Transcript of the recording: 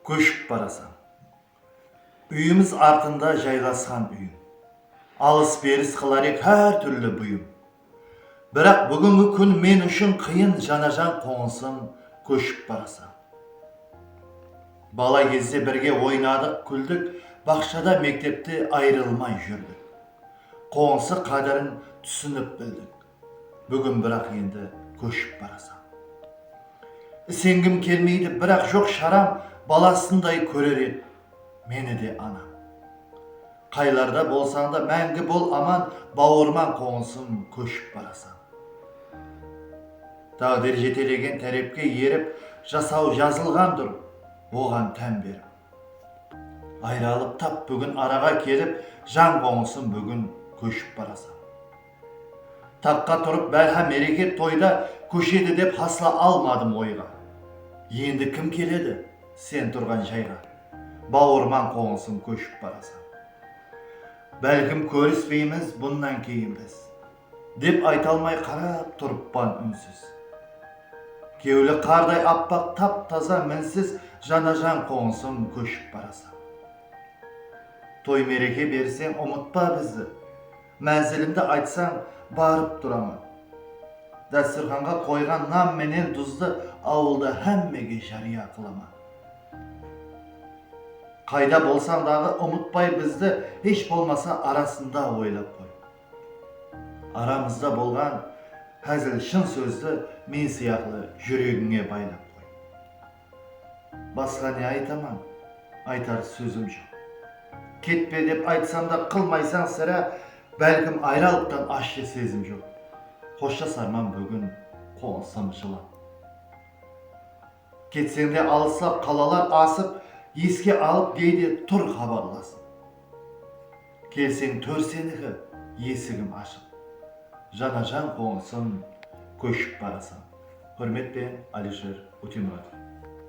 Kóship barasań. Úyimiz artında jaylasqan úyim. Alıs-beris qılar ed hár túrli buyım. Biraq búgingi kún men ushın qıyın janajan qońısım kóship barasań. Bala gezde birge oynadıq, kúldik, baqshada, mektepte ayrılmay júrdik. Qońısı qádirin túsinip bildik. Búgin biraq endi kóship barasań. Isengim kelmeydi biraq joq sharam balasınday kórer edi meni de anam. Qaylarda bolsańda máńgi bol aman bawırıma qońısım kóship barasań. Táǵdir jetelegen tárepke erip jasaw jazılǵandur oǵan tán berip. Ayralıp tap búgin araǵa kelip jan qońısım búgin kóship barasań. Taqqa turıp bárha mereke toyda kóshedi dep hasla almadım oyǵa. Endi kim keledi sen turǵan jayǵa bawırman qońısım kóship barasań. Bálkim kórispeymiz bunnan keyin biz dep aytalmay qarap turıppan únsiz. Kewli qarday appaq tap taza minsiz janajan qońısım kóship barasań. Toy mereke berseń umıtpa bizdi. Mánzilimdi aytsań, barıp turaman. Dásturxanǵa qoyǵan nan menen duzdı awılda hámmege járiya qılaman. Qayda bolsań daǵı umıtpay bizdi, hesh bolmasa arasında oylap qoy. Aramızda bolǵan házil-shın sózdi men sıyaqlı júregińe baylap qoy. Basqa ne aytaman, aytar sózim joq. Ketpe dep aytsam da qılmaysań sirá, bálkim ayralıqtan ashshı sezim joq. Xoshjasarman búgin qońısım jılap. Ketseń de alıslap qalalar asıp, eske alıp geyde tur xabarlasıp. Kelseń tór seniki esigim ashıq. Jana jan qońısım kóship barasań. Húrmet pe Alisher Utemuratov.